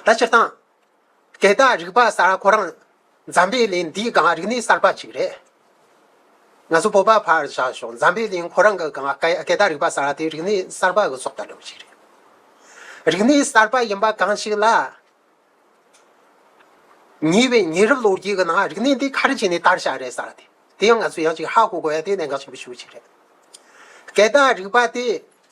ད་སྤྱིར་བཏང། དེ་དག་རིག་པ་གསར་ཁོ་རང་འཛམ་བུའི་གླིང་འདིའི་སྒང་རིག་གནས་གསར་པ་ཞིག་རེད། ང་ཚོ་བོད་པ་ཕར་བཞག་ཞོག་འཛམ་བུའི་གླིང་ཁོ་རང་གི་སྒང་དེ་དག་རིག་པ་གསར་དེ་རིག་གནས་གསར་པ་གི་སྲོག་ལྟ་གྲུབ་ཞིག་རེད། རིག་གནས་གསར་པ་ཡིན་པ་གང་ཞིག་ལ། ཉེ་བའི་ཉེ་རབས་ལོ་རྒྱུས་ཀྱི་ནང་རིག་གནས་འདི་ག་རེ་བྱས་ནས་དར་ཤ་རེད་ས་རེད། དེ་ཡང་ང་ཚོས་ཡང་ཅིག་ཧ་གོ་དགོས་ཡ་དེ་གནད་འགག་ཆེན་པོ་ཞིག་རེད། དེ་དག་རིག་པ་དེ།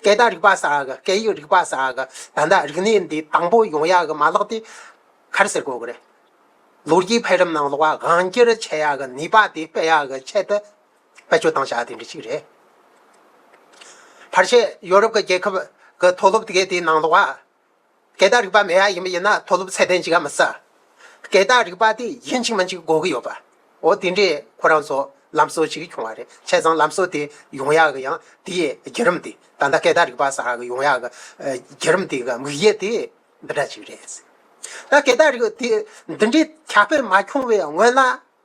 སྐད་བརྡ་རིག་པ་ས་ག་སྐད་ཡིག་རིག་པ་ས་ག་ད་ལྟ་རིག་གནས་འདི་དང་པོ་ཡོང་ཡག་གི་མ་ལག་དེ་གར་ཟེར་དགོས་ཀྱི་རེད། ལོ་རྒྱུས་འཕེལ་རིམ་ནང་ལོག་པ་གང་སྐྱེར་ཆེ་ཡག་གི་ནུས་པ་དེ་སྤེལ་ཡག་གི་ཆེད་དུ་བེད་སྤྱོད་བཏང་བྱ་དེ་འདྲི་གཅིག་རེད། ཕར་ཆེར་ཡོ་རུབ་ཀྱི་རྒྱལ་ཁབ་ཀྱི་མཐོ་སློབ་དགེ་དེའི་ནང་ལོག་པ། སྐད་བརྡ་རིག་པ་མེད་ཡ་ཡིན་པ་ཡིན་ན་མཐོ་སློབ་ཚད་ལྡན་གཅིག་ག་མི་ཟ། སྐད་བརྡ་རིག་པ་དེ་ཡིན་གཅིག་མིན་གཅིག་གོ་གི་ཡོད་པ། འོ་དེ་འདྲའི་ཁོ་རང་ཚོ་ལམ་སྲོལ་གཅིག་བྱུང་བ་རེད་བྱས་ཙང་ལམ་སྲོལ་དེ་ཡོང་ཡག་གི་ཡང་དེ་ཡི་བརྒྱུད་རིམ་དེ་ད་ལྟ་སྐད་བརྡ་རིག་པ་ཟ་གི་ཡོང་ཡག་གི་བརྒྱུད་རིམ་དེ་གི་དམིགས་ཡུལ་དེ་འདི་འདྲ་གཅིག་རེད། ད་སྐད་བརྡ་རིག་པ་དེ་འདི་འདྲའི་ཁྱབ་སྤེལ་མ་བྱུང་བའི་སྔོན་ལ།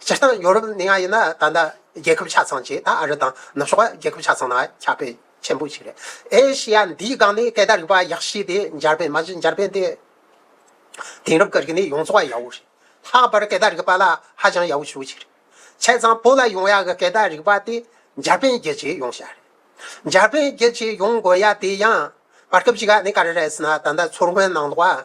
སྤྱིར་བཏང་ཡོ་རོབ་ནང་ཡང་ཡིན་ན་ད་ལྟ་རྒྱལ་ཁབ་ཆ་ཚང་གཅིག་ད་ཨ་རི་དང་ནུབ་ཕྱོགས་རྒྱལ་ཁབ་ཆ་ཚང་ནང་ཁྱབ་པའི་ཆེན་པོ་ཞིག་རེད། ཨེ་ཤེ་ཡ་འདིའི་སྒང་ནས་སྐད་བརྡ་རིག་པ་ཡག་ཤོས་དེ་འཇར་པན་མ་གཞི་འཇར་པན་དེ་དེང་རབས་ཀྱི་རིག་གནས་ཡོངས་རྫོགས་ཡག་བོ་རེད། ལྷག་པར་སྐད་བརྡ་རིག་པ་ལ་ཧ་ཅང་ཡག་བོ་ཞུ་བ་ཞིག་རེད། ཆ་ཚང་བོད་ལ་ཡོང་ཡག་གི་སྐད་བརྡ་རིག་པ་དེ་འཇར་པན་རྒྱལ་སྤྱིའི་ཡོང་ཤག་རེད། འཇར་པན་རྒྱལ་སྤྱིའི་ཡོང་དགོས་ཡ་དེ་ཡང་བར་སྐབས་ཅིག་ནས་ག་རེ་རེད་ཟེར་ན་ད་ལྟ་མཚོ་སྔོན་ནང་ལོགས་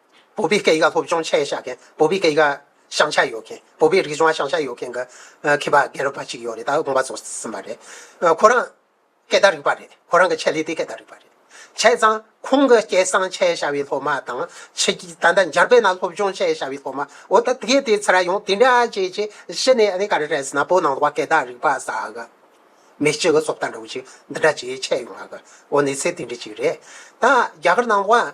བོད་པའི་སྐད་ཡིག་སློབ་སྦྱོང་བྱེད་བཞག་མཁན་བོད་པའི་སྐད་ཡིག་ཤང་ཆ་ཡོད་མཁན་བོད་པའི་རིག་གཞུང་ཤང་ཆ་ཡོད་མཁན་གྱི་མཁས་པ་རྒན་རབས་པ་གཅིག་ཡོད་རེད་ད་དགོངས་པ་རྫོགས་ཟིན་པ་རེད། ཁོ་རང་སྐད་བརྡ་རིག་པ་རེད་ཁོ་རང་གི་ཆེད་ལས་དེ་སྐད་བརྡ་རིག་པ་རེད། བྱས་ཙང་ཁོང་གི་སྐད་ཤང་ཆའི་བྱ་བའི་སློབ་མ་དང་ཕྱི་རྒྱལ་ད་ལྟ་འཇར་པན་ན་སློབ་སྦྱོང་བྱེད་བཞག་པའི་སློབ་མ་འོ་ད་དེ་དེ་ཚོ་ར་ཡོང་དེ་འདྲ་བྱས་ཅི་གཞི་ནས་ཨ་ནེ་ག་རེ་རེད་ཟེར་ན་བོད་ནང་དུ་བ་སྐད་བརྡ་རིག་པ་ཟ་གི་མི་གཅིག་གི་སོ་བརྡ་འདྲ་བོ་གཅིག་འདི་འདྲ་བྱས་ཆད་ཡོང་གི་འོ་ནི་ཚེ་དེ་འདྲ་གཅིག་རེད་ད་རྒྱ་གར་ནང་དུ་བ།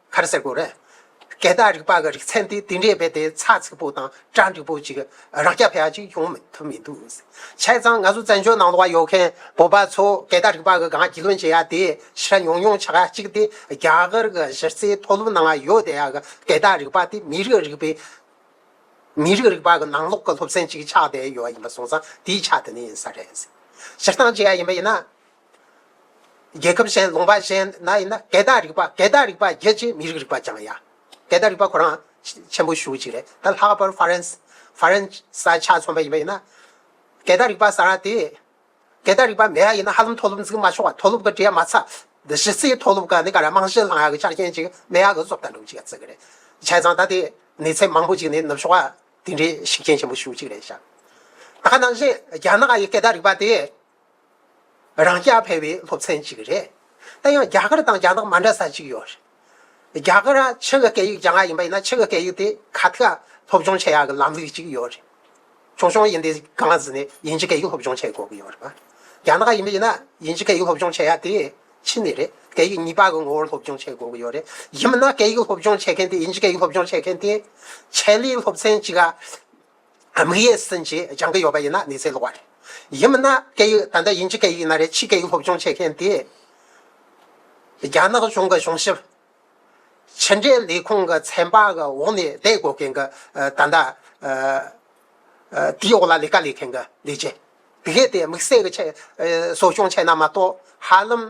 ཁར་སེར་པོ་རེད། སྐད་བརྡ་རིག་པ་གི་རིག་ཚན་དེ་དེ་འདྲའི་རྦད་དེ་ཚགས་ཚུད་པོ་དང་གྲ་འགྲིག་པོ་ཅིག་རང་སྐྱ་ཕལ་ཅིག་ཡོང་མི་ཐུབ་མི་འདུག། བྱས་ཙང་ང་ཚོ་བཙན་བྱོལ་ནང་དུ་ཡོད་མཁན་བོད་པ་ཚོ་སྐད་བརྡ་རིག་པ་གི་སྒང་རྒྱུས་ལོན་བྱེད་ཡ་དེ་ཕྱིར་ཉུང་ཉུང་ཆགས་ཡ་གཅིག་དེ་རྒྱ་གར་གི་གཞི་རྩའི་མཐོ་སློབ་ནང་ཡོད་བསྡད་ཡ་གི་སྐད་བརྡ་རིག་པ་དེ་མི་རིགས་རིག་པའི་མི་རིགས་རིག་པ་གི་ནང་ལོགས་གི་སློབ་ཚན་ཅིག་ཆགས་བསྡད་ཡོད་ཡིན་པ་སོང་ཙང་དེའི་ཆ་དེ་ནས་ཡིན་ས་རེད། སྤྱིར་བཏང་བྱེད་ཡ་ཡིན་པ་ཡིན་ན། རྒྱལ་ཁབ་གཞན་ལུང་པ་གཞན་ན་ཡིན་ན་གད་དག་རིག་པ་གད་དག་རིག་པ་རྒྱལ་སྤྱིའི་མི་རིགས་རིག་པ་ལྗང་ཡ། གད་དག་རིག་པ་ཁོ་རང་ཆེན་པོ་ཞུགས་ཅིག་རེད་ད་ལྷག་པར་ཧྥ་རན་སི་ཧྥ་རན་ས་ཆ་ཚོང་པ་ཡིན་པ་ཡིན་ན། གད་དག་རིག་པ་ཟ་ར་དེ། གད་དག་རིག་པ་མེད་ཡ་ཡིན་ན་ཧ་ལམ་མཐོ་སློབ་འཛིན་མ་ཆོག་མཐོ་སློབ་གི་འབྲས་མ་ཚ། གཞི་རྩའི་མཐོ་སློབ་ག་ནི་ག་ར་རྨང་གཞི་བསླང་ཡ་གི་ཆ་རྐྱེན་གཅིག་སྨན་ཡག་གི་བཟོ་ལྟ་འགྲུབ་ཅིག་ག་ཚིག་གི་རེད། བྱས་ཙང་ད་དེ་ནུས་ཚད་མང་པོ་ཅིག་ནི་ནུབ་ཕྱོགས་ཀ་དེ་འདྲའི་ཤུགས་རྐྱེན་ཆེན་པོ་ཞུགས་ཅིག་རེད་ཤག། ད་ནང་བཞིན་རྒྱ་ནག་ཡི་གད་དག་རིག་པ་དེ་རང་སྐྱ་ཕལ་བའི་སློབ་ཚན་གཅིག་རེད། ད་ཡང་རྒྱ་གར་དང་རྒྱ་ནག་མ་འདྲ་ས་གཅིག་ཡོད་རེད། རྒྱ་གར་ལ་ཕྱི་གི་སྐད་ཡིག་རྒྱ་ནག་ཡིན་པ་ཡིན་ན་ཕྱི་གི་སྐད་ཡིག་དེ་ཁ་ཐག་སློབ་སྦྱོང་བྱེད་ཡག་གི་ལམ་ལུགས་གཅིག་ཡོད་རེད། ཆུང་ཆུང་ཡིན་དུས་གང་ལ་བཟི་ནས་དབྱིན་ཇི་སྐད་ཡིག་སློབ་སྦྱོང་བྱེད་དགོས་ཀྱི་ཡོད་རེད། རྒྱ་ནག་ཡིན་པ་ཡིན་ན་དབྱིན་ཇི་སྐད་ཡིག་སློབ་སྦྱོང་བྱེད་ཡག་དེ་ཕྱི་ནས་རེད། སྐད་ཡིག་གཉིས་པ་གི་ངོ་བོར་སློབ་སྦྱོང་བྱེད་དགོས་ཀྱི་ཡོད་རེད། ཡིན་མིན་ན་སྐད་ཡིག་སློབ་སྦྱོང་བྱེད་མཁན་དེ་དབྱིན་ཇི་སྐད་ཡིག་སློབ་སྦྱོང་བྱེད་མཁན་དེ་ཆེད་ལས་སློབ་ཚན་གཅིག་ག། དམིགས་ཡས་ཟིན་ཅེས་སྦྱང་གི་ཡོད་པ་ཡིན་ན་གནས་ཚད་ལོག་པ་རེད། ཡིན་མིན་ན་སྐད་ཡིག་ད་ལྟ་ཡིན་གྱི་སྐད་ཡིག་ཡིན་ན་རེད་ཕྱིའི་སྐད་ཡིག་སློབ་སྦྱོང་བྱེད་མཁན་དེ་རྒྱ་ནག་གཞུང་གི་གཞུང་ཞབས། ཕྱི་འབྲེལ་ལས་ཁུངས་ཀྱི་ཚན་པ་གི་འོག་ནས་བསྡད་དགོས་མཁན་གྱི་ད་ལྟ་དེའི་འོག་ལ་ལས་ཀ་ལས་མཁན་གྱི་ལས་བྱེད། དེ་གས་དེ་དམིགས་བསལ་གྱི་ཆེད་གསོ་སྐྱོང་བྱས་ན་མ་གཏོགས་ཧ་ལམ།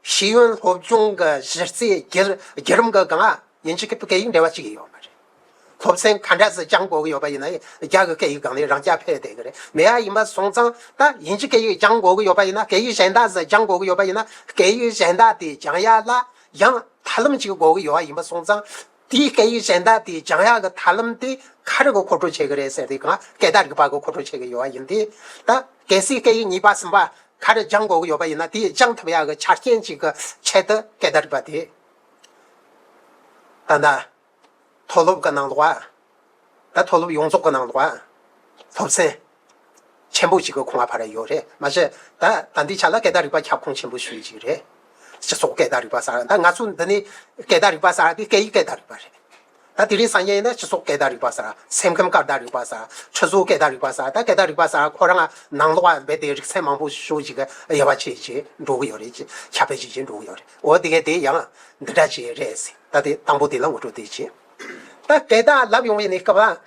ཤེས་ཡོན་སློབ་སྦྱོང་གི་གཞི་རྩའི་བརྒྱུད་རིམ་གྱི་སྒང་ཨ་ཉིན་གཅིག་གི་སྐད་ཡིག་འབྲེལ་བ་ཅིག་ཡོད་པ་རེད། སློབ་ཚན་ག་འདྲ་ཞིག་སྦྱངས་དགོས་ཀྱི་ཡོད་པ་ཡིན་ན་རྒྱ་གི་སྐད་ཡིག་སྒང་ནས་རང་རྐྱ་འཕེར་བསྡད་ཀྱི་རེད། མེད་ཨ་ཡིན་པ་སོང་ཙང་ད་ཡིན་གཅིག་སྐད་ཡིག་སྦྱངས་དགོས་ཀྱི་ཡོད་པ་ཡིན་ན་སྐད་ཡིག་གཞན་དག་ཞིག་སྦྱངས་དགོས་ཀྱི་ཡོད་པ་ཡིན་ན་སྐད་ཡིག་གཞན་དག་དེ་སྦྱངས་ཡ་ལ་ཡང་ཐབས་ལམ་ཅིག་དགོས་ཀྱི་ཡོད་ཨ་ཡིན་པ་སོང་ཙང་དེའི་སྐད་ཡིག་གཞན་དག་དེ་འཇང་དབྱངས་ཀྱི་ཐར་ལམ་དེ་ག་རེ་གི་གོ་འཕྲོ་བྱེད་ཀྱི་རེད་ཟེར་དུས་གང་སྐད་དག་རིག་པ་གི་གོ་འཕྲོ་བྱེད་ཀྱི་ཡོད་པ་ཡིན་དུས། ད་གལ་སྲིད་སྐད་ཡིག་གཉིས་པ་གསུམ་པ་ག་རེ་སྦྱང་དགོས་ཀྱི་ཡོད་པ་ཡིན་ན་དེའི་སྦྱང་ཐུབ་ཡག་གི་ཆ་རྐྱེན་གཅིག་གི་ཆེད་དུ་སྐད་དག་རིག་པ་དེ། ད་ལྟ་མཐོ་སློབ་ཀྱི་ནང་དུ་བ་ད་མཐོ་སློབ་ཡོངས་རྫོགས་ཀྱི་ནང་དུ། སློབ་ཚན་ཆེན་པོ་གཅིག་གི་གོང་བ་བར་ཡོད་རེད་མ་གཞི། ད་ལྟ་འདི་ཆ་ལ་སྐད་བརྡ་རིག་པ་ཁྱབ་ཁོངས་ཆེན་པོ་ཞིག་རེད། སྤྱི་ཚོགས་སྐད་བརྡ་རིག་པ་གསར་ད་ང་ཚོ་འདི་ནི་སྐད་བརྡ་རིག་པ་གསར་འདི་སྐད་ཡིག་སྐད་བརྡ་རིག་པ་རེད། ད་དེ་རིང་སང་ཉིན་ནི་སྤྱི་ཚོགས་སྐད་བརྡ་རིག་པ་གསར་སེམས་ཁམས་སྐད་བརྡ་རིག་པ་གསར་ཁྲི་ཟུར་སྐད་བརྡ་རིག་པ་གསར་ད་སྐད་བརྡ་རིག་པ་གསར་ཁོ་རང་ནང་ལོགས་ལ་རྦད་དེ་རིག་ཚན་མང་པོ་ཤོས་ཅིག་དབྱེ་བ་ཕྱེས་ཀྱི་འགྲོ་གི་ཡོད་རེད་ཅེས་ཁྱབ་སྤེལ་བྱེད་ཀྱི་འགྲོ་གི་ཡོད་རེད་འོ་དེ་གས་དེ་ཡང་འདི་འདྲ་བྱས་རེད་ཟེར་ད་དེ་དང་པོ་དེ་ལ་ངོ་སྤྲོད་དེ་བྱས། ད་སྐད་བདག་ལབ་ཡོང་བའི་ནི་སྐབས།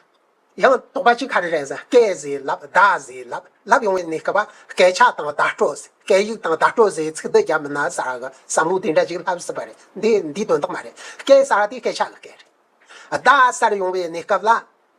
ཡང་དོགས་པ་ཅི་ག་རེ་རེད་ཟེར་སྐད་ཟེར་ལབ་བདག་ཟེར་ལབ་ལབ་ཡོང་བའི་ནི་སྐབས། སྐད་ཆ་དང་བརྡ་སྤྲོད་ཟེར་སྐད་ཡིག་དང་བརྡ་སྤྲོད་ཟེར་ཚིག་འདི་རྒྱབ་ན་བཟའ་གི་བསམ་བློ་དེ་འདྲ་ཅིག་ལྷག་སྲིད་པ་རེད་འདི་འདིའི་དོན་དག་མ་རེད་སྐད་གསར་དེ་སྐད་ཆ་ལ་སྐད་རེད། བདག་གསར་ཡོང་བའི་ནི་སྐབས་ལ།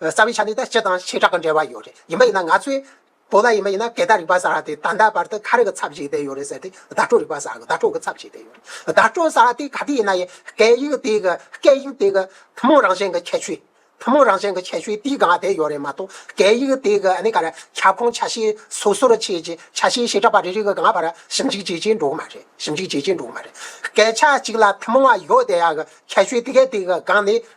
རྩ་བའི་ཆ་ནས་ད་སྤྱི་དང་བྱེ་བྲག་གི་འབྲེལ་བ་ཡོད་རེད། ཡིན་པ་ཡིན་ན་ང་ཚོས། བོད་ལ་ཡིན་པ་ཡིན་ན་གད་ད་རིག་པ་ཟ་ར་དེ་ད་ལྟ་བར་དུ་ཁ་རི་གི་ཚབ་བྱེད་དེ་ཡོད་རེད་ཟེར་དེ་བརྡ་སྤྲོད་རིག་པ་ཟ་གི་བརྡ་སྤྲོད་གི་ཚབ་བྱེད་དེ་ཡོད་རེད། བརྡ་སྤྲོད་ཟ་ར་དེ་ག་དུས་ཡིན་ན་ཡིན་སྐད་ཡིག་དེ་གི་སྐད་ཡིག་དེ་གི་ཐུན་མོང་རང་བཞིན་གི་ཁྱད་ཆོས། ཐུན་མོང་རང་བཞིན་གི་ཁྱད་ཆོས་དེའི་སྒང་དེ་ཡོད་རེད་མ་གཏོགས་སྐད་ཡིག་དེ་གི་ཨ་ནི་ག་ར་ཁྱབ་ཁོངས་ཆ་ཤས་སོ་སོར་ཕྱེས་རྗེས་ཆ་ཤས་བྱེ་བྲག་པ་རེ་རེ་གི་སྒང་བར་ཞིབ་འཇུག་བྱེད་ཀྱིན་འགྲོ་གི་མ་རེད་ཞིབ་འཇུག་བྱེད་ཀྱིན་འགྲོ་གི་མ་རེད། སྐད་ཆ་གཅིག་ལ་ཐུན་མོང་བ་ཡོད་དེ་ཡག་གི་ཁྱད་ཆོས་དེ་ག་དེ་གི་སྒང་ནས་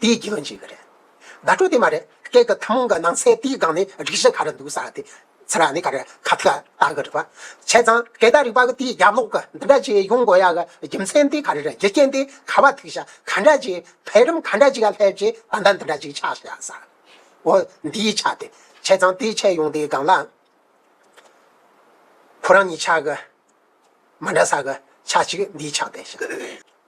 དེའི་རྒྱུ་མཚན་ཅི་རེད། བརྡ་སྤྲོད་དེ་མ་རེད། སྐད་ཀྱི་ཐུན་མོང་གི་སྣང་ཚན་དེའི་སྒང་ནས་སྒྲིག་གཞི་ག་རེ་འདུག་ས་དེ། ཚིག་ར་ནི་ག་རེ་ཁ་ཐག་བཏགས་གི་རིག་པ། བྱས་ཙང་སྐད་བརྡ་རིག་པ་གི་དེའི་རྒྱབ་ལོག་གི་འདི་འདྲ་ཅིག་ཡོང་དགོས་ཡ་གི་རྒྱུ་མཚན་དེ་ག་རེ་རེད་རྒྱུ་རྐྱེན་དེ་ག་བ་ཐུག་ཞག་ག་འདྲ་ཅིག་འཕེལ་རིམ་ག་འདྲ་ཅིག་ལ་སླེབས་རྗེས་ད་ལྟ་འདི་འདྲ་ཅིག་ཆགས་ཞག་ས་འོ་འདིའི་ཆ་དེ། བྱས་ཙང་དེའི་ཆ་ཡོང་དེའི་སྒང་ལ། ཁོ་རང་གཉིས་ཆ་གི་མ་འདྲ་ས་གི་ཆ་ཅིག་འདིའི་ཆ་དེ་ཞེས།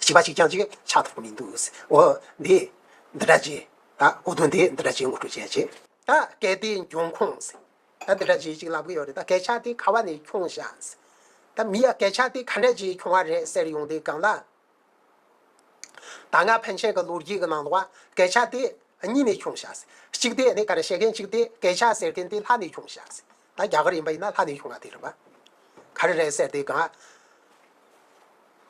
བྱིས་པ་གཅིག་ཀྱང་ཅིག་ཆགས་ཐུབ་ཀྱི་མི་འདུག་འོ། འདི་འདི་འདྲ་ཅི། ད་གོ་དོན་དེ་འདི་འདྲ་ཅི་ངོ་སྤྲོད་བྱས་ཅི། ད་གལ་ཏེ་འབྱུང་ཁུངས། ད་འདི་འདྲ་ཅི་ཅིག་ལབ་ཀྱི་ཡོད་རེད་ད་གས་ཆགས་དེ་ག་བ་ནས་འཁྱོངས་ཤག། ད་མི་ཡ་གས་ཆགས་དེ་ག་འདྲ་ཅིག་འཁྱོངས་བ་རེད་ཟེར་ཡོང་དེ་གང་ལ། ད་སྔ་ཕན་ཆད་ཀྱི་ལོ་རྒྱུས་ཀྱི་ནང་དུ་བ་གས་ཆགས་དེ་གཉིས་ནས་འཁྱོངས་ཤག། གཅིག་དེ་ནས་ག་རེ་བཤད་མཁན་གཅིག་དེ་གས་ཆགས་ཟེར་མཁན་དེ་ལྷ་ནས་འཁྱོངས་ཤག། ད་རྒྱ་གར་ཡིན་པ་ཡིན་ན་ལྷ་ནས་ཡོང་ན་དེ་རེད་པ། ག་རེ་རེད་ཟེར་དེ་གང།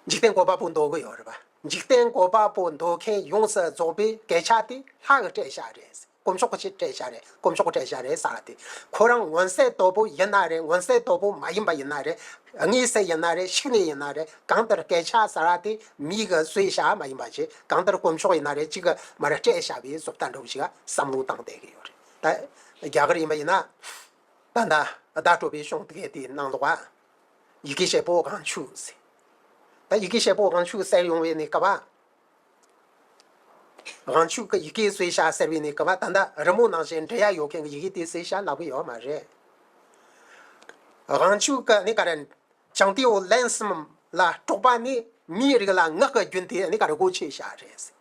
འཇིག་རྟེན་ཀོ་པ་པོ་འདོགས་གི་ཡོད་རེད་པ། འཇིག་རྟེན་ཀོ་པ་པོ་འདོགས་མཁན་ཡོངས་སུ་རྫོགས་པའི་སྐད་ཆ་དེ་ལྷ་གི་སྐྲད་ཤ་རེད། དཀོན་མཆོག་གི་སྐྲད་ཤ་རེད་དཀོན་མཆོག་གི་སྐྲད་ཤ་རེད་ཟེར་བ་དེ། ཁོ་རང་མངོན་གསལ་དོད་པོ་ཡིན་ན་རེད་མངོན་གསལ་དོད་པོ་མ་ཡིན་པ་ཡིན་ན་རེད། དངོས་གསལ་ཡིན་ན་རེད་ཤིག་ནས་ཡིན་ན་རེད་གང་ལྟར་སྐད་ཆ་ཟེར་བ་དེ་མིའི་གི་གསོད་ཤ་མ་ཡིན་པ་ཆེ་གང་ལྟར་དཀོན་མཆོག་ཡིན་ན་རེད་གཅིག་གི་མ་རེད་སྐྲད་ཤ་བའི་བཟོ་ལྟ་འགྲུབ་ཅིག་བསམ་བློ་བཏང་བསྡད་ཀྱི་ཡོད་རེད། ད་རྒྱ་གར་ཡིན་པ་ཡིན་ན། ད་ནཱ་ད་སྤྲོ་པའི་གཤོང་གཏད་དེ་ནང་ལོག་པ། ཡི་གེ་ཤེལ་པོ་གང་ཆུ་བསྲེས། ད་ཡི་གེ་ཤེལ་པོ་གང་ཆུ་བསྲེས་ཡོང་བའི་ནི་སྐལ་བ། གང་ཆུ་གི་ཡི་གེ་བསྲེས་བྱ་ཟེར་བའི་ནི་སྐལ་བ་ད་ནཱ་རི་མོ་ནང་བཞིན་འབྲི་ཡ་ཡོད་མཁན་གྱི་ཡི་གེ་དེ་བསྲེས་བྱ་ལག་པ་ཡོད་མ་རེད། གང་ཆུ་གི་ནི་ག་རེ་བྱང་སྟེའུ་ལན་གསུམ་ལ་སྤྲོ་པ་ནི་མིའི་རིགས་ལ་ངག་གི་རྒྱུན་དེ་ནི་ག་རེ་གོ་ཆོད་བྱ་རེད།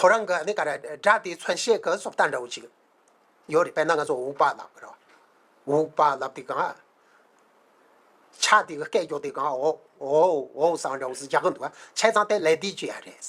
ཁོ་རང་གི་ནི་ག་རེ་སྒྲ་དེའི་མཚོན་བྱེད་ཀྱི་སོགས་ལྟ་འདྲ་བོ་ཅིག་ཡོད་རེད་དཔེར་ན་ང་ཚོ་འུག་པ་ལབ་རེད། འུག་པ་ལབ་དེ་གང། ཆ་དེ་གི་སྐད་རྒྱོགས་དེ་གང་འོའོ་འོའོ་ཟེར་བ་འདྲ་བོ་ཟེར་རྒྱག་གི་འདུག་བྱས་ཙང་དེ་ལས་འདི་བརྗོད་ཡ་རེད།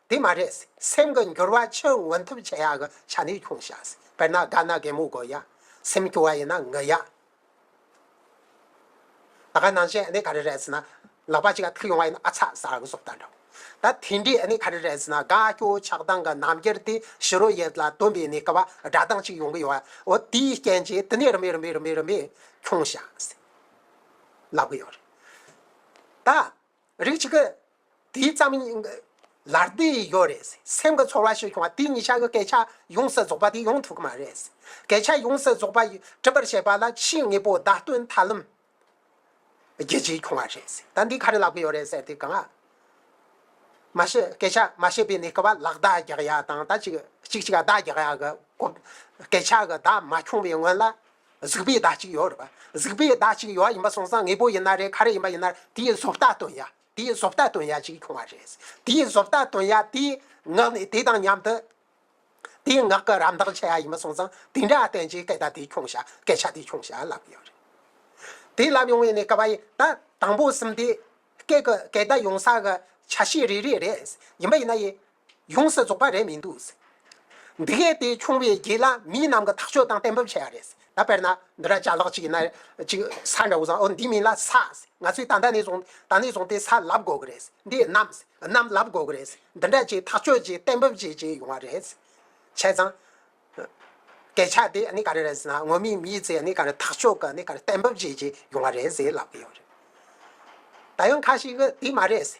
དེ་མ་རེད། སེམས་ཀྱི་འགྱུར་བ་ཕྱིར་མངོན་ཐུབ་བྱེད་ཡག་གི་ཆ་ནས་ཁྱུང་བྱ། དཔེར་ན་སྒ་ན་རྒན་མོ་དགོད་ཡ། སེམས་སྐྱོ་བ་ཡིན་ན་ངུ་ཡ། ད་ག་ནང་བཞིན་ག་རེ་རེད་ཟེར་ན། ལག་པ་གཅིག་ག་ཐུག་ཡོང་བ་ཡིན་ན་ཨ་ཚ་ཟ་གི་སོགས་ལྟ་འདྲ། ད་དེ་འདྲས་ག་རེ་རེད་ཟེར་ན་དགའ་སྐྱོ་ཆགས་སྡང་གི་རྣམ་དབྱེར་དེ་ཕྱི་རོལ་ཡུལ་ལ་སྟོན་པའི་གནས་སྐབས་བ་སྒྲ་གདངས་གཅིག་ཡོང་གི་ཡོད། འོ་དེའི་རྐྱེན་གྱིས་དེ་ནས་རིམ་པས་རིམ་པས་རིམ་པས་རིམ་པས་ཁྱུང་བྱ། ལབ་གི་ཡོད་རེད། ད། རིགས་གཅིག་གི། དེའི་ཙམ། ལར་དེ་ཡོད་རེད། སེམས་ཀྱི་ཚོར་བ་ཞིག་བྱུང་བ་དེ་ཉིད་ཤར་གྱི་སྐད་ཆ་ཡོངས་སུ་རྫོགས་པ་དེ་ཡོང་ཐུབ་ཀྱི་མ་རེད། སྐད་ཆ་ཡོངས་སུ་རྫོགས་པ་གྲུབ་པར་བྱེད་པ་ལ་ཆེས་ངེས་པོ་བརྡ་སྟོན་ཐབས་ལམ། རྒྱལ་སྤྱིའི་བྱུང་བ་རེད། ད་འདི་ག་རེ་ལབ་ཀྱི་ཡོད་རེད་ཟེར་དེ་གང། མ་བཤད་སྐད་ཆ་མ་བཤད་པའི་ནི་སྐུ་བ་ལགས་བརྡ་རྒྱག་ཡ་དང་ད་ཅིག་ཅིག་ཅིག་བརྡ་རྒྱག་ཡ་གི་སྐད་ཆ་གི་བརྡ་མ་འཁྱོངས་པའི་སྔོན་ལ། གཟིགས་པའི་བརྡ་གཅིག་ཡོད་རེད་པ། གཟིགས་པའི་བརྡ་གཅིག་ཡོད་ཡིན་པ་སོང་ཙང་ངེས་པོ་ཡིན་ན་རེད་ག་རེ་ཡིན་པ་ཡིན་ན་རེད་དེའི་བཟོ་ལྟ་སྟོན་ཡ་དེའི་བཟོ་ལྟ་སྟོན་ཡ་གཅིག་བྱུང་བ་རེད། དེའི་བཟོ་ལྟ་སྟོན་ཡ་དེའི་ངག་ནས་དེ་དང་མཉམ་དུ། དེའི་ངག་གི་རམ་འདེགས་བྱེད་ཡ་ཡིན་པ་སོང་ཙང་དེ་འདྲ་བསྟན་རྗེས་སྐད་བརྡ་དེ་བྱུང་ཞག་སྐད་ཆ་དེ་བྱུང་ཞག་ལབ་ཡོད་རེད། དེ་ལབ་ཡོང་བའི་ནས་ཀ་བ་ཡིན་ད་དང་པོ་གསུམ་དེ། སྐད་ཀྱི་སྐད་བརྡ་ཡོང་ས་གི་ཆ་ཤས་རེ་རེ་རེད། ཡིན་པ་ཡིན་ན་ཡིན། ཡོངས་སུ་རྫོགས་པ་རེད་མི་འདུག། འདི་གས་དེ་ཆུང་བའི་རྗེས་ལ་མི་རྣམས་ཀྱི་ཐག་གཅོད་དང་གཏན་འབེབས་བྱས་པ་རེད། ད་དཔེར་ན། འདི་ར་ཅག་ལགས་ཅིག་ན་ཅིག་ས་འདྲ་བོ་བཟང་ཨོ་འདི་མིན་ལ་ས། ང་ཚོས་ད་ད་ནས་བཟུང་ད་ནས་བཟུང་དེ་ས་ལབ་དགོས་ཀྱི་རེད། འདི་གནམ། གནམ་ལབ་དགོས་ཀྱི་རེད། འདི་འདྲ་ཅིག་ཐག་གཅོད་ཅིག་གཏན་འབེབས་བྱེད་ཅིག་ཡོང་བ་རེད། བྱས་ཙང། སྐད་ཆ་དེ་ག་རེ་རེད་ཟེར་ན་སྔོན་མའི་མིའི་ཚེ་ག་རེ་ཐག་གཅོད་ག་རེ་གཏན་འབེབས་བྱེད་ཅིག་ཡོང་བ་རེད་ཟེར་ལབ་ཀྱི་ཡོད་རེད། ད་ཡང་ཁ་ཞིག་གིས་དེ་མ་རེད།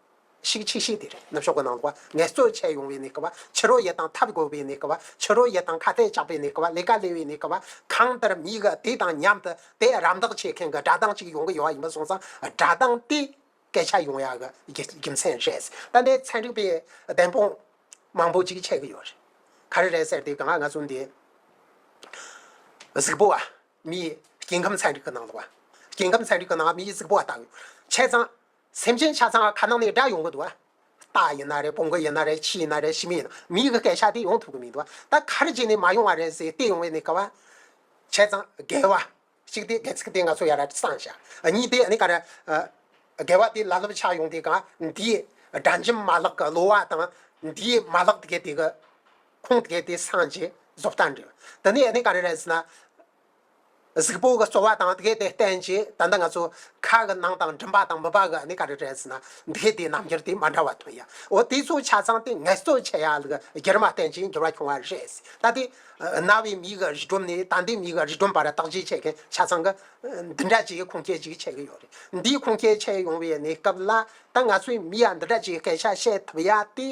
ཤིག་ཆིག་ཤིག་དེ་རིང་ནུབ་ཕྱོགས་ཀྱི་ནང་དུ་ངལ་རྩོལ་བྱེད་ཡོང་བའི་ནི་ཀ་བ་ཕྱི་རོལ་ཡས་དང་ཐབས་དགོས་པའི་ནི་ཀ་བ་ཕྱི་རོལ་ཡས་དང་ཁ་གཏད་བཅག་པའི་ནི་ཀ་བ་ལས་ཀ་ལས་པའི་ནི་ཀ་བ་གང་ལྟར་མི་ག་དེ་དང་མཉམ་དུ་དེ་རམ་འདེགས་བྱེད་མཁན་གྱི་སྒྲ་གདངས་གཅིག་ཡོང་གི་ཡོད་ཡིན་པ་སོང་ཙང་སྒྲ་གདངས་དེ་སྐད་ཆ་ཡོང་ཡག་གི་རྒྱུ་མཚན་རེད་ད་ནི་ཚན་རིག་པའི་བདེན་དཔང་མང་པོ་ཅིག་བྱེད་གི་ཡོད་རེད་ག་རེ་རེད་ཟེར་དུས་གང་ང་ཚོ་འདི་གཟུགས་པོ་བ་མིའི་སྐྱེ་ཁམས་ཚན་རིག་གི་ནང་དུ་བ་སྐྱེ་ཁམས་ཚན་རིག་གི་ནང་མིའི་གཟུགས་པོ་བ་བལྟ་གི་ཡོད་བྱས་ཙང། སེམས་ཅན་ཆ་ཚང་ཁ་ནང་ནས་བསྒྲལ་ཡོང་གི་འདུག་ལྟ་ཡིན་ན་རེད་སྤོང་གི་ཡིན་ན་རེད་ཁྱི་ཡིན་ན་རེད་ཤི་མི་ཡིན་ན་མི་ཡི་གི་སྐད་ཆ་དེ་ཡོང་ཐུབ་གི་མི་འདུག་ད་ག་རེ་བྱས་ནས་མ་ཡོང་བ་རེད་ཟེར་བལྟས་ཡོང་བའི་ནི་ཀ་བ་བྱས་ཙང་དགེ་བ་གཅིག་དེ་གེགས་སེ་དེ་ང་ཚོ་ཡར་ར་སང་བྱ་གཉིས་དེ་ནི་ཀ་ར་དགེ་བ་དེ་ལ་ལུབ་ཆགས་ཡོང་དེ་ག་འདིའི་དགྲ་འཇིམ་མ་ལག་གི་གློ་བ་དང་འདིའི་མ་ལག་དགེ་དེ་གི་ཁུངས་དགེ་དེ་སང་རྗེས་བཟོ་བལྟ་འདྲི་དེ་ནས་ནི་ཀ་རེ་རེད་ཟེར་ན། གཟུགས་པོ་གི་རྩོལ་བ་དང་དེ་དེ་བསྟན་ཅིང་ད་ལྟ་ང་ཚོ་ཁ་གི་ནང་དང་མགྲིན་པ་དང་མུན་པ་གི་ནི་ག་རེ་རེད་ཟེར་ན་དེ་དེའི་རྣམ་འགྱུར་དེ་མ་འདྲ་བ་མཐོང་ཡ། འོ་དེ་ཚོ་ཆ་ཚང་དེ་ངལ་རྩོལ་བྱས་ཡ་ལ་གྱེར་མ་བསྟན་ཅིང་འགྱུར་བ་བྱུང་བ་རེད་ཟེར་ད་དེ། རྣ་བའི་མིག་གི་རིས་སྒྲོམ་ནི་ད་ལྟའི་མིག་གི་རིས་སྒྲོམ་བར་བརྟག་དཔྱད་བྱེད་མཁན་ཆ་ཚང་གི། འདི་འདྲ་ཅིག་ཁུངས་སྐྱེལ་ཅིག་བྱེད་ཀྱི་ཡོད་རེད། འདིའི་ཁུངས་སྐྱེལ་བྱེད་ཡོང་བའི་ནི་སྐབས་ལ་ད་ང་ཚོའི་མི་ཡ་འདི་དྲ་ཅིག་སྐད་ཆ་བཤད་ཐུབ་ཡ་དེ།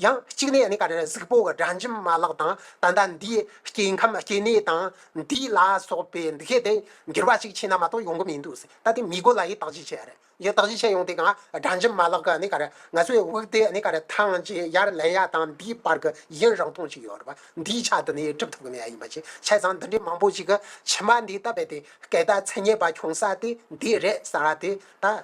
ཡང་གཅིག་ནས་ནི་ག་རེ་གཟིགས་པོ་གི་དྲ་འཇིམ་མ་ལག་དང་ད་ལྟ་འདིའི་སྐྱེ་ཁམས་སྐྱེ་གནས་དང་འདི་ལ་སོགས་པའི་འདི་གས་དེ་འགྱུར་བ་ཅིག་ཕྱིན་ན་མ་གཏོགས་ཡོང་གི་མི་འདུག་ཟེར་ད་དེ་མི་དགོས་ལ་ཡི་དྭགས་ཅིག་བྱས་རེད་ཡི་དྭགས་ཅིག་བྱས་ཡོང་དེ་ག་དྲ་འཇིམ་མ་ལག་གི་ནི་ག་རེ་ང་ཚོའི་དབུགས་དེ་ནི་ག་རེ་ཐང་ཅིག་ཡར་ལེན་ཡ་དང་འདིའི་བར་གི་ཡིན་རང་སྟོང་ཅིག་ཡོད་རེད་པ་འདིའི་ཆ་དེ་ནི་སྒྲུབ་ཐུབ་གི་མེད་ཡ་ཡིན་པ་ཅིག་བྱས་ཙང་འདི་འདྲའི་མང་པོ་ཅིག་གི་ཕྱི་མ་འདི་ལྟ་བས་དེ་སྐད་བརྡ་ཚད་ཉེས་པ་འཁྱོངས་ས་དེ་འདི་རེད་ཟེར་བ་དེ་ད།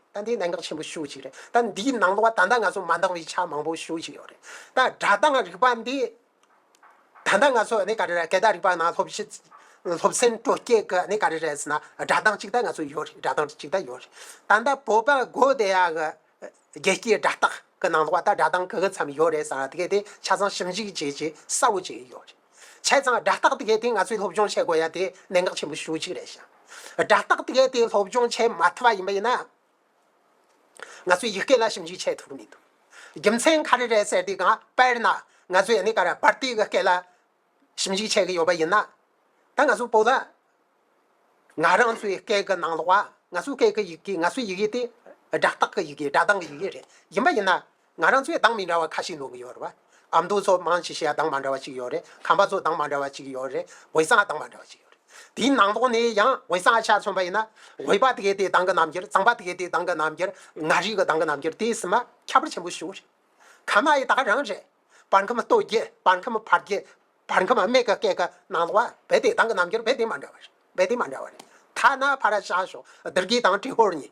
ད་འདིའི་གནད་འགག་ཆེན་པོ་ཤོས་ཤིག་རེད་ད་འདིའི་ནང་དུ་བ་ད་ལྟ་ང་ཚོ་མ་འདང་བའི་ཆ་མང་པོ་ཤོས་ཤིག་ཡོད་རེད་ད་དྲ་དང་རིག་པ་འདི། ད་ལྟ་ང་ཚོ་ནི་ག་རེ་རེད་སྐད་དང་རིག་པ་ནང་སློབ་ཕྱི། སློབ་ཚན་སྤྲོ་སྐྱིད་ཀྱི་ནི་ག་རེ་རེད་ཟེར་ན་དྲ་དང་ཅིག་ད་ང་ཚོ་ཡོད་རེད་དྲ་དང་ཅིག་ད་ཡོད་རེད་ད་ལྟ་བོད་པ་སྒོ་བདེ་ཡག་གི། རྒྱལ་སྤྱིའི་དྲ་ཐག་གི་ནང་དུ་བ་ད་དྲ་དང་གི་གི་མཚམས་ཡོད་རེད་ཟེར་ན་དེ་གས་དེ་ཆ་ཚང་ཞིབ་འཇུག་བྱེད་ཆེད་གསར་བོ་བྱས་ཡོད་རེད། བྱས་ཙང་སྒྲ་རྟག་ཏུ་གལ་ཏེ་ང་ཚོས་སློབ་སྦྱོང་བྱེད་དགོས་ཡ་དེ་གནད་འགག་ཆེན་པོ་ཞུ་གཅིག་རེད་ཞིང། སྒྲ་རྟག་ཏུ་གལ་ཏེ་སློབ་སྦྱོང་བྱེད་མ་ཐུབ་པ་ཡིན་པ་ཡིན་ན། ང་ཚོས་ཡིག་སྐད་ལ་ཞིབ་འཇུག་བྱེད་ཐུབ་ཀྱི་མི་འདུག་རྒྱུ་མཚན་ག་རེ་རེད་ཟེར་དུས་གང། དཔེར་ན། ང་ཚོས་ཡ་ནི་ཀ་ར་པར་ཏི་གི་སྐད་ལ་ཞིབ་འཇུག་བྱེད་ཀྱི་ཡོད་པ་ཡིན་ན། ད་ང་ཚོས་པོ་ལ། ང་རང་ཚོའི་སྐད་ཀྱི་ནང་ལོགས་པ་ང་ཚོའི་སྐད་ཀྱི་ཡི་གེ་ང་ཚོའི་ཡི་གེ་དེ་སྒྲ་རྟག་གི་ཡི་གེ་སྒྲ་གདངས་ཀྱི་ཡི་གེ་རེད་ཡིན་པ་ཡིན་ན། ང་རང་ཚོའི་གདངས་མི་འདྲ་བ་ཁ་ཤིག་ལུང་གི་ཡོད་རེད། ཨ་མདོ་ཚོ་མང་ཆེ་ཤས་གདངས་མ་འདྲ་བ་ཅིག་ཡོད་རེད། ཁམས་པ་ཚོ་གདངས་མ་འདྲ་བ་ཅིག་ཡོད་རེད། འོད་གསལ་གདངས་མ་འདྲ་བ་ཅིག་ཡོད་རེད། དེའི་ནང་དོག་ནས་ཡང་འོད་གསལ་ཆ་མཚོན་པ་ཡིན་ན། འོད་པ་དེ་གའི་དེའི་གདངས་ཀྱི་རྣམ་འགྱུར་གཙང་པ་དེ་གའི་དེའི་གདངས་ཀྱི་རྣམ་འགྱུར། ངག་རིག་གི་གདངས་ཀྱི་རྣམ་འགྱུར་དེ་གསུམ་མ་ཁྱད་པར་ཆེན་པོ་བྱུང་རེད། ཁམས་མ་ཡི་དག་རང་རེད། བར་ཁམས་སྟོད་རྒྱུད་བར་ཁམས་བར་རྒྱུད། བར་ཁམས་སྨད་ཀྱི་སྐད་ཀྱི་ནང་དོག་བ་བའི་དེའི་གདངས་ཀྱི་རྣམ་འགྱུར་བའི་དེ་མ་འདྲ་བ་རེད་བའི་དེ་མ་འདྲ་བ་རེད། ཐ་ན་ཕ་ར་ཤ་ཤོག་སྡེར་སྐྱིད་དང་དྲི་ཧོར་གཉིས།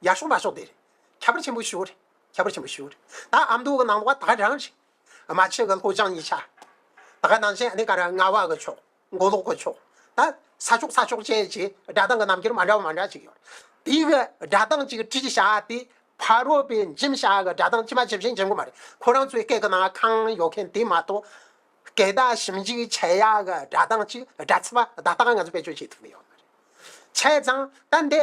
ཡར་ཤོག་མར་ཤོག་དེ་རེད། ཁྱད་པར་ཆེན་པོ་བྱུང་རེད། ཁྱད་པར་ཆེན་པོ་ཞུ། ད་ཨ་མདོ་གི་ནང་དུ་བ་ད་རང་རེད། རྨ་ཆེན་གི་ལྷོ་བྱང་གཉིས་ཆ། ད་ག་ནང་ཆེན་ཨ་ནི་ཀ་ར་རྔ་བ་གི་ཕྱོགས་མགོ་ལོག་གི་ཕྱོགས། ད་ས་ཕྱོགས་ས་ཕྱོགས་ཅན་གྱི་སྒྲ་གདངས་ཀྱི་རྣམ་འགྱུར་མ་འདྲ་བ་མ་འདྲ་ཅིག་ཡོད། དེའི་གི་སྒྲ་གདངས་གཅིག་གི་བྲིས་བྱ་དེ་ཕ་རོལ་པའི་འཇིམ་བྱ་གི་སྒྲ་གདངས་ཅི་མ་ཇི་བཞིན་འཇིམ་གི་མ་རེད། ཁོ་རང་ཚོའི་སྐད་ཀྱི་ནང་ཁང་ཡོད་མཁན་དེ་མ་གཏོགས། སྐད་བརྡ་ཞིབ་འཇུག་བྱེད་ཡ་གི་སྒྲ་གདངས་གཅིག་སྒྲ་ཚིག་པ་བརྡ་རྟགས་ང་ཚོ་བེད་སྤྱོད་བྱེད་ཐུབ་ཀྱི་ཡོད་མ་རེད། བྱས་ཙང་ད་འདི་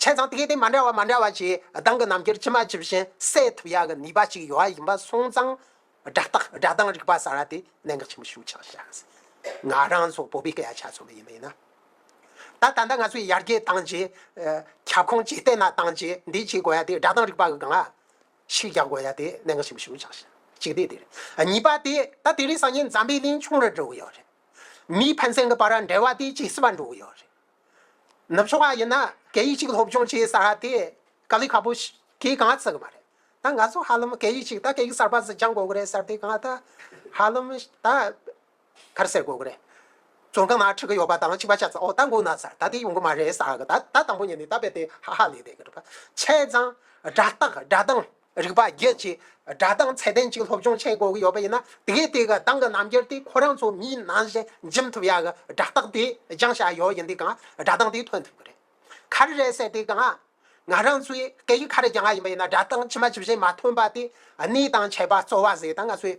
བྱས་ཙང་དེ་གའི་སྟེང་མ་འདྲ་བ་མ་འདྲ་བ་ཞིག་གདང་གི་ནམ་མཁའི་ཕྱི་མ་ཇི་བཞིན་གསལ་ཐུབ་ཡག་གི་ནུས་པ་ཞིག་ཡོད་ཡིན་པ་སོང་ཙང། སྒྲ་རྟགས་སྒྲ་གདངས་རིག་པ་གསར་བ་དེ་གནད་འགག་ཆེན་པོ་ཤུགས་ཆགས་ཤག་ཟེར། ང་རང་ཚོ་བོད་པའི་སྐད་ཡ་ཆ་ཚང་མ་ཡིན་པ་ཡིན་ན། ད་ད་ལྟ་ང་ཚོས་ཡར་རྒྱས་བཏང་རྗེས། ཁྱབ་ཁོངས་ཇེ་བརྟན་ལ་བཏང་རྗེས་འདི་བྱེད་དགོས་ཡ་དེ་སྒྲ་གདངས་རིག་པ་གི་གང་ཞིག་རྒྱག་དགོས་ཡ་དེ་གནད་འགག་ཆེན་པོ་ཤུགས་ཆགས་ཤག་གཅིག་དེ་དེ་རེད། གཉིས་པ་དེ་ད་དེ་རིང་སང་ཉིན་འཛམ་བུའི་གླིང་ཆུང་རེ་འགྲོ་གི་ཡོད་རེད། མིའི་ཕན་ཚན་གི་བར་འབྲེལ་བ་དེ་ཇེ་བསིལ་བ་འགྲོ་གི་ཡོད་རེད། ནུབ་ཕྱོགས་ཁག་ཡིན་ན་སྐད་ཡིག་གཅིག་སློབ་སྦྱོང་བྱེད་ས་དེ་དཀའ་ལས་ཁག་པོ་ཞིག་གང་ལྟར་བརྩི་གི་མ་རེད་ད་ང་ཚོ་ཧ་ལམ་སྐད་ཡིག་གཅིག་ད་སྐད་ཡིག་གསར་པ་ཟིག་སྦྱང་དགོས་ཀྱི་རེད་ཟེར་དེ་གང་ལྟར་ཧ་ལམ་ད་གར་སེལ་དགོས་ཀྱི་རེད། བཙོན་ཁང་ནང་ཁྲིད་ཀྱི་ཡོད་པ་དང་གཅིག་པ་ཆ་ཚང་འོག་ད་འགུག་ན་ཟེར་ད་དེ་ཡོང་གི་མ་རེད་ཟེར་ད་ད་དང་པོ་ཉིད་ནས་ད་རྦད་དེ་ཧ་ཧ་ལས་བསྡད་ཀྱི་འདུག་ཆས་གཙང་སྒྲ་རྟགས་སྒྲ་གདངས། རིག་པ་རྒྱས་བྱེད་སྒྲ་གདངས་ཚད་ལྡན་ཅིག་སློབ་སྦྱོང་བྱེད་དགོས་ཀྱི་ཡོད་པ་ཡིན་ན་དེ་གས་དེ་ག་གདངས་ཀྱི་རྣམ་འགྱུར་དེ་ཁོ་རང་ཚོ་མིའི་ནང་བཞིན་འཇིམ་ཐུབ་ཡག་གི་སྒྲ་རྟགས་དེ་སྦྱང་བྱ་ཡོད་ཡིན་དེ་གང་སྒྲ་གདངས་དེ་ཐོན་ཐུབ་ཀྱི་རེད། ག་རེ་རེད་ཟེར་དེ་གང། ང་རང་ཚོས་སྐད་ཡིག་ག་རེ་སྦྱང་བ་ཡིན་པ་ཡིན་ན་སྒྲ་གདངས་ཇི་མ་ཇི་བཞིན་མ་ཐོན་པ་དེ་གནས་དང་བྱེད་པ་རྩོལ་བ་ཟེར་ད་ང་ཚོས།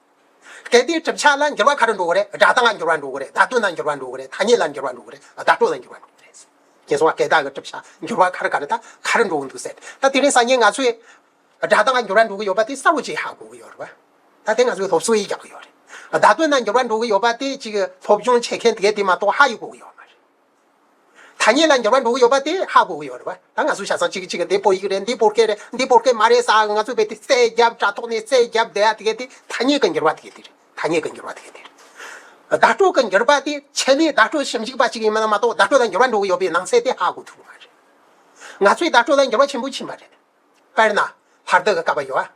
གལ་ཏེ་གྲུབ་ཆ་ལ་འགྱུར་བ་ག་རེ་འགྲོ་གི་རེད་སྒྲ་གདངས་ལ་འགྱུར་བ་འགྲོ་གི་རེད་བརྡ་དོན་ལ་འགྱུར་བ་འགྲོ་གི་རེད་ཐ་སྙད་ལ་འགྱུར་བ་འགྲོ་གི་རེད་བརྡ་སྤྲོད་ལ་འགྱུར་བ་འགྲོ་གི་རེད། ངས་གསུངས་བ་སྐད་གདངས་ཀྱི་གྲུབ་ཆ་འགྱུར་བ་ག་རེ་ག་རེ་དང་ག་རེ་འགྲོ་གི་འདུག་ཟེར་ད་དེ་རིང་ས་ཉིན་ང་ཚོས་སྒྲ་གདངས་ལ་འགྱུར་བ་འགྲོ་གི་ཡོད་པ་དེ་གསལ་བོ་ཅིག་ཧ་གོ་གི་ཡོད་རེད་པ། ད་དེ་ང་ཚོས་སློབ་གསོ་ཡིས་རྒྱག་གི་ཡོད་རེད། བརྡ་དོན་ལ་འགྱུར་བ་འགྲོ་གི་ཡོད་པ་དེ་གཅིག་སློབ་སྦྱོང་བྱེད་མཁན་དེ་གས་དེ་མ་གཏོགས་ཧ་ཡིས་གོ་གི་ཡོད་མ་རེད། ཐ་སྙད་ལ་འགྱུར་བ་འགྲོ་གི་ཡོད་པ་དེ་ཧ་གོ་གི་ཡོད་རེད་བ། ད་ང་ཚོས་བྱ་ས་གཅིག་གི་གཅིག་གི་འདི་བོད་ཡིག་རེད་འདི་བོད་སྐད་རེད་འདི་བོད་སྐད་མ་རེད་ས་ང་ཚོས་བོད་དེ་བཙལ་བརྒྱབ་དྲ་ཐོག་ནས་བཙལ་བརྒྱབ་བསྡད་ཡ་དེ་གས་དེ་ཐ་སྙད་གི་འགྱུར་བ་དེ་གས་དེ་རེད་ཐ་སྙད་གི་འགྱུར་བ་དེ་གས་དེ་རེད། བརྡ་སྤྲོད་གི་འགྱུར་བ་དེ་ཆེད་ལས་བརྡ་སྤྲོད་ཞིབ་འཇུག་པ་གཅིག་ཡིན་མིན་ལ་མ་གཏོགས་བརྡ་སྤྲོད་ལ་འགྱུར་བ་འགྲོ་གི་ཡོད་པའི་ནང་ཚད་དེ་ཧ་གོ་ཐུབ་ཀྱི་མ་རེད། ང་ཚོས་བརྡ་སྤྲོད་ལ་འགྱུར་བ་ཆེན་པོ་ཕྱིན་པ་རེད། དཔེར་ན། ལྷར་བསྟོད་ཀྱི་བཀའ་བབས་ཡོད། དགོངས་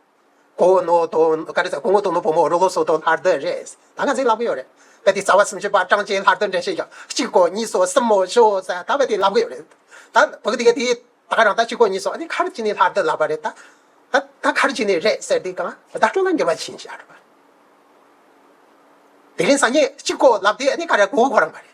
བོ་ནོ་དོན། བཀའ་དྲིན་ཆེ། དགོངས་བོ་དོན་ནོ་བུ་མོ་རོ་ལོ་སོ་དོན་ལྷར་བསྟོད་རེད། ད་ག་ཟིག་ལབ་གི་ཡོད་རེད། དཔེ་དེ་རྩ་བ་སུམ་ཅུ་པ་ཀྲང་ཅེས་ལྷར་བསྟོད་འགྲེལ་བཤད་ཀྱང་གཅིག་གོ་གཉིས་སོ་གསུམ་མོ་བྱོ་ཟེར་ད་དཔེ་དེ་ལབ་གི་ཡོད་རེད། ད་བོད་དགེ་དེས་ད་ག་རང་ད་གཅིག་གོ་གཉིས་སོ་ཨ་ནི་ཁར་གཅིག་ནས་ལྷར་བསྟོད་ལབ་པ་རེད། ད་ད་ཁར་གཅིག་ནས་རེད་ཟེར་དེ་གང་བདག་སྤྲོ་ན་འགྱུར་བ་ཕྱིན་ཞེས་ཨ་རོ། དེ་རིང་ཟ་ཉལ་གཅིག་གོ་ལབ་དེ་ཨ་ནི་ཁ་ར་གོ་གོ་རང་མ་རེད།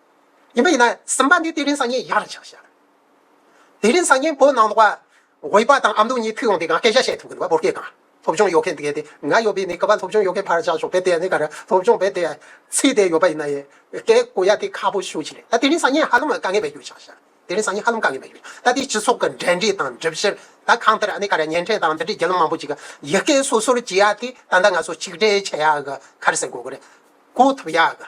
ཡིན་པ་ཡིན་ན་སེམས་དཔའ་འདི་དེ་རིང་སང་ཉིན་ཡར་ཆགས་བྱ། དེ་རིང་སང་ཉིན་བོད་ནང་ལོག་པ་འོས་པ་དང་ཨ་མདོ་གཉིས་ཕུད་ཡོང་དེ་གང་སྐད་ཆ་བཤད་ཐུབ་གི་འདུག་བོད་སྐད་གང་སློབ་སྦྱོང་ཡོད་མཁན་དགེ་དེ་ང་ཡོད་པའི་ནི་སྐལ་པ་སློབ་སྦྱོང་ཡོད་མཁན་ཕར་བཞག་ཞོགས་པའི་དེ་ནི་ག་རེ་སློབ་སྦྱོང་བས་དེ་ཚིག་དེ་ཡོད་པ་ཡིན་ན་ཡི་གེ་གོ་ཡ་དེ་ཁག་པོ་ཞུ་བྱེད་རེད་ད་དེ་རིང་སང་ཉིན་ཧ་ལམ་དཀའ་ངལ་མེད་རྒྱུ་ཆགས་བྱ་དེ་རིང་སང་ཉིན་ཧ་ལམ་དཀའ་ངལ་མེད་རྒྱུ་ད་དེ་སྤྱི་ཚོགས་ཀྱི་འབྲེལ་འདྲིས་དང་སྒྲིབ་བཤེར་ད་གང་ལྟར་ཨ་ནི་ག་རེ་བརྙན་འཕྲིན་དང་འདི་འདྲའི་རྒྱལ་ལོ་མང་པོ་ཅིག་ཡི་གེ་སོ་སོར་བྱེད་ཡ་དེ་ད་ལྟ་ང་ཚོ་ཆིག་སྒྲིལ་བྱེད་ཡ་གི་ག་རེ་ཟེར་གོ་གི་རེད་གོ་ཐུབ་ཡ་གི།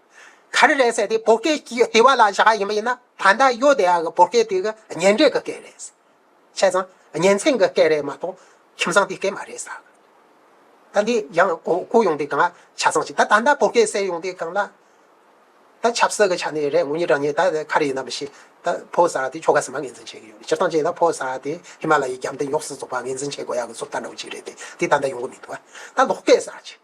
ག་རེ་རེད་ཟེར་ཏེ་བོད་སྐད་ཀྱི་ལྟེ་བ་ལ་བཞག་ག་ཡིན་པ་ཡིན་ན་ད་ལྟ་ཡོད་དེ་ཡག་གི་བོད་སྐད་དེ་གི་ཉན་འབྲས་ཀྱི་སྐད་རེད། བྱས་ཙང་ཉན་ཚན་གྱི་སྐད་རེད་མ་གཏོགས་ཁྱིམ་ཚང་དེའི་སྐད་མ་རེད་ཟ་གི། ད་འདི་ཡང་གོ་ཡོང་དེ་གང་ལ་ཆ་ཚང་ཞིག་ད་ད་ལྟ་བོད་སྐད་གསལ་ཡོང་དེ་གང་ལ། ད་ཆབ་སྲིད་ཀྱི་ཆ་ནས་རེད་ངོ་གཉིས་བྲང་གཉིས་ད་ག་རེ་ཡིན་ནམ་ཞེས་ད་ཕོ་གསར་བ་དེ་ཁྱོ་ག་ཟེར་མ་ངེས་འཛིན་བྱེད་ཀྱི་ཡོད་རེད་སྤྱིར་བཏང་བྱས་ན་ཕོ་གསར་བ་དེ་ཧི་མ་ལ་ཡའི་རྒྱབ་མདའི་ཉོག་སྲིད་ཚོགས་པ་ངེས་འཛིན་བྱེད་དགོས་ཡག་གི་ཚུར་ལྟ་འདྲ་བོ་ཅིག་རེད་དེ་འདི་ད་ལྟ་ཡོང་གི་མི་འདུག་ད་ལོག་སྐད་གསར་བྱེད།